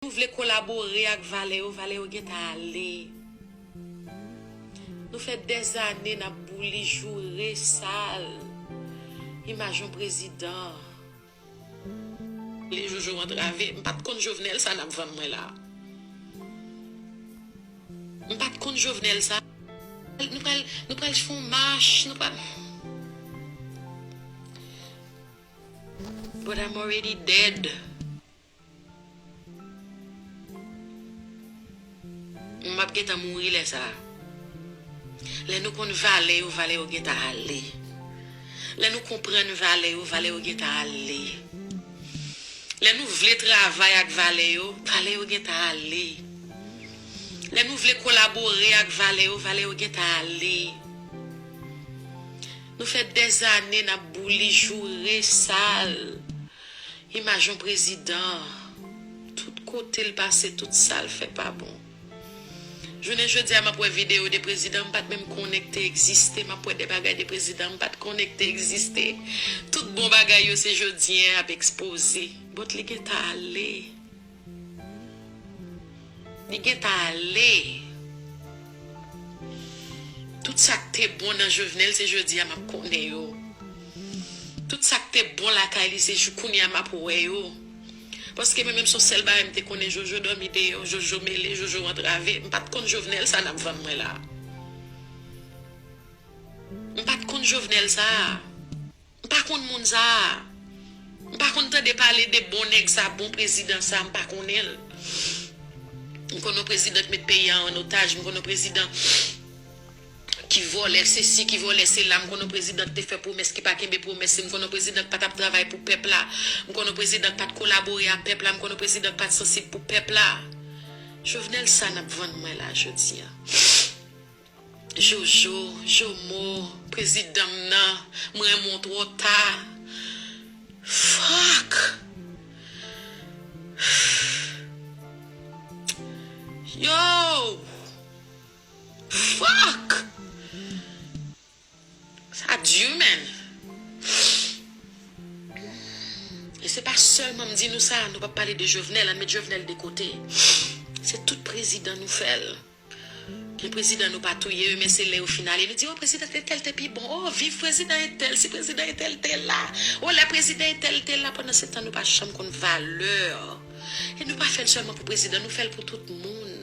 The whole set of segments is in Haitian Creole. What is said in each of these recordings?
Nou vle kolabore ak valè yo valè yo gentan ale nou fè dèzane nap bouli joure sal imaj yon prezidan. Li jojo antrave. M pat konn jovenel sa nap vann mwen la. M pat konn jovenel sa. Nou pral nou pral fè yon mach nou pral. But I'm already dead. Mwen map gentan mouri lè sa. Lè nou konn valè yo valè yo gentan ale lè nou konprann valè yo valè yo gentan ale lè nou vle travay ak valè yo valè yo gentan ale lè nou vle kolabore ak valè yo valè yo gentan ale nou fè dèzane nap bouli joure sal Imaj yon prezidan tout kotel pase tout sal fè pa bon. Jounen jodia map wè video de prezidan mpat menm konnen k te egziste map wè de bagay de prezidan mpat konnen k te egziste tout bon bagay yo se jodien yap ekspoze. Bot li gentan ale. Li gentan ale. Tout sak te bon nan jovenel se jodia map konnen yo tout sak te bon lakay li se jou kounya map wè yo paske mwen menm son sèl bagay mte konnen jojo dòmi deyò jojo mele jojo antrave mpat konn jovenel sa nap vann mwen la mpat konn jovenel sa. M pa konn moun sa a. M pa konn tande pale de bon nèg sa a, bon prezidan sa a, m pa konnen l. M konn yon prezidan ki met peyi a an otaj, m konn yon prezidan ki vòlè sesi, ki vòlè sela, m konn yon prezidan ki te fè pwomès ki pa kenbe pwomès li, m konn yon prezidan ki pa t ap travay pou pèp la, m konn yon prezidan ki pa t kolabore a pèp la, m konn yon prezidan ki pa t sansib pou pèp la. Jovenel sa n ap vann mwen la jodi a. Jojo, jomo, prezidan m nan, m renmen w twò ta. Fuck! Yow! Fuck! Sa dur menn. E se pa selman m di nou sa nou pa pale de Jovenel an met Jovenel de kote. Se tout prezidan nou fel. Gen prezidan nou pa touye yo men se le yo fin ale nou di oh prezidan etel te pi bon oh viv prezidan etel si prezidan etel te la oh le prezidan etel te la pandan se tan nou pa janm konn valeur e nou pa fel selman pou prezidan nou fel pou tout moun.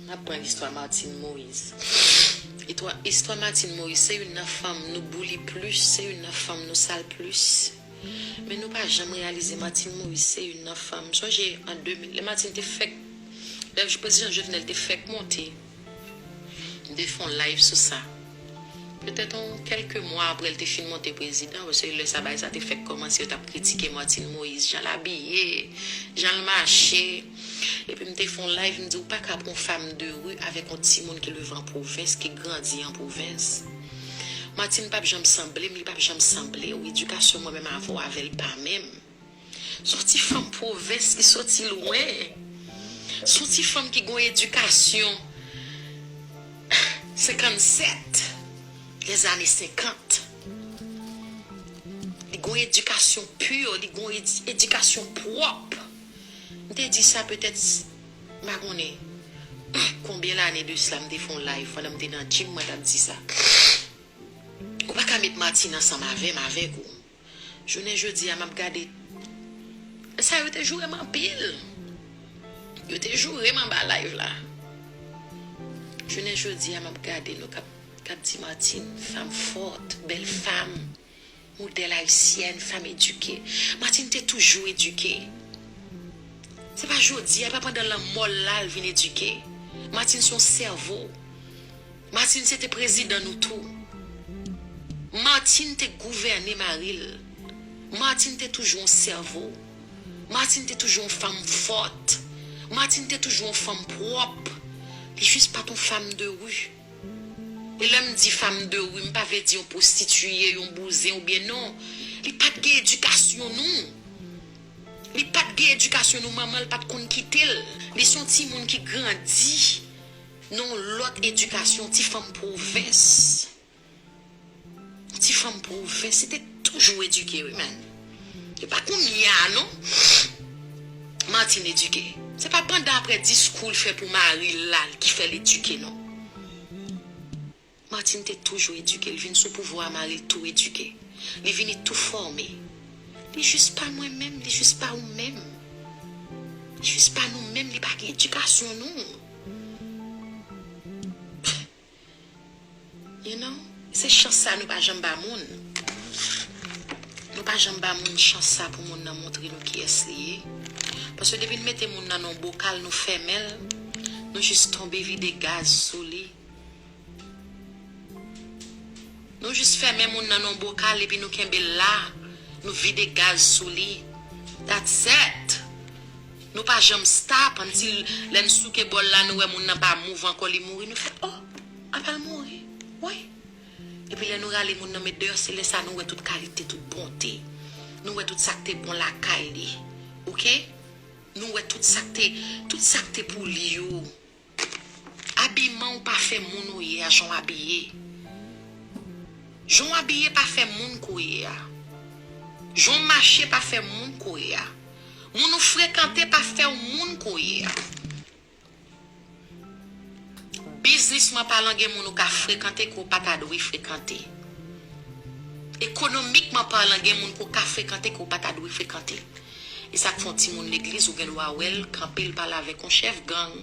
M ap pran istwa Martine Moise. Istwa Martine Moise se youn nan fanm nou bouli plis, se youn nan fanm nou sal plis. Men nou pa janm reyalize Martine Moise se youn nan fanm. M sonje an 2000, lè Martine te fèk, lè prezidan Jovenel te fèk monte. M te fè yon live sou sa. Petèt yon kèlke mwa aprè l te fin monte prezidan, paske lè sa bagay sa te fèk kòmanse, yo t ap kritike Martine Moïse, jan l abiye, jan l mache. Epi m te fè yon live, m di ou pa ka pran yon fam de ri avèk yon timoun ki leve an pwovens, ki grandi an pwovens. Martine p ap janm sanble m, li p ap janm sanble ou. Edikasyon mwen menm avè w avè l pa menm. Son ti fanm pwovens ki soti lwen. Son ti fanm ki gon edikasyon 57 les années 50. Li gon edikasyon pur, li gon edikasyon pwop. M te di sa petèt m pa konnen konbyen lane de sla m te fon live pandan m te nan gym mwen tap di sa. Ou pa ka met Martine ansanm avè m avèk ou. Jounen jodi a map gade Lè sa yo te joure m anpil Yo te joure m anba live la Jounen jodi a map gade nou kap Kap di Martine fanm fòt bèl fanm Modèl ayisyèn fanm edike Martine te toujou edike Se pa jodi a e pa pandan lanmò l la l vin edike Martine son sèvo Martine se te prezidan nou tou. Martine te gouvène mari l. Martine te toujou yon sèvo. Martine te toujou yon fanm fòt. Martine te toujou yon fanm pwòp. Li jis pa t yon fam de ri. E lè m di fam de ri, m pa vle di yon pwostitiye, yon bouzen oubyen non. Li pa t gen edikasyon nou. Li pa t gen edikasyon nou, manman l pa t konn kite l. Li se yon timoun ki grandi. Nan yon lòt edikasyon, ti fanm pwovens, ti fanm pwovens se te toujou edike wi menn. Se pa kounye a non Martine edike. Se pa pandan apre diskou l fè pou mari l la ki fè l edike non. Martine te toujou edike li vin sou pouvwa a mare tou edike li vini tou fòme li jis pa mwen menm li jis pa ou menm li jis pa nou menm li pa gen edikasyon nou pff you know se chans sa nou pa janm ba moun nou pa janm ba moun chans sa pou moun nan montre nou kiyès li ye paske depi nou mete moun nan nan yon bokal nou fèmenl nou jis tonbe vide gaz sou li. Nou jis fèmen moun nan non bokal epi nou kenbel la nou vide gaz sou li that's et nou pa janm stop until lèn souke bòl la nou wè moun nan pa move ankò li mouri nou fè oh apal mouri wi epi lè nou rale moun nan met deyò se lèsa nou wè tout kalite tout bonte nou wè tout sak te bon lakay li ok nou wè tout sak te tout sak te pou li yo. Abiman w pa fè moun ou ye a jan w abiye Jan w abiye pa fè moun kou ye a Jan w mache pa fè moun kou ye a Moun ou frekante pa fè w moun kou ye a Biznisman palan gen moun ou ka frekante ke w pa ta dwe frekante Ekonomikman palan gen moun ke w ka frekante ke w pa ta dwe frekante. E sak fon ti moun legliz ou gen dwa wèl kanpe l pale avèk yon chèf gang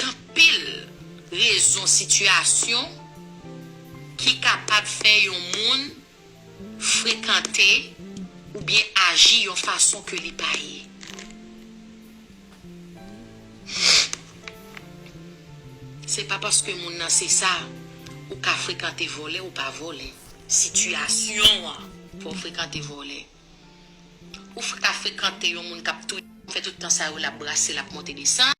kanpil rezon sitiyasyon ki kapab fè yon moun frekante oubyen aji yon fason ke li pa ye. Se pa paske moun nan se sa, ou ka frekante vòlè ou pa vòlè. Sitiyasyon an fè w frekante vòlè. Ou ka frekante yon moun k ap touye, k ap fè tout tan sa yo l ap brase, l ap monte desann.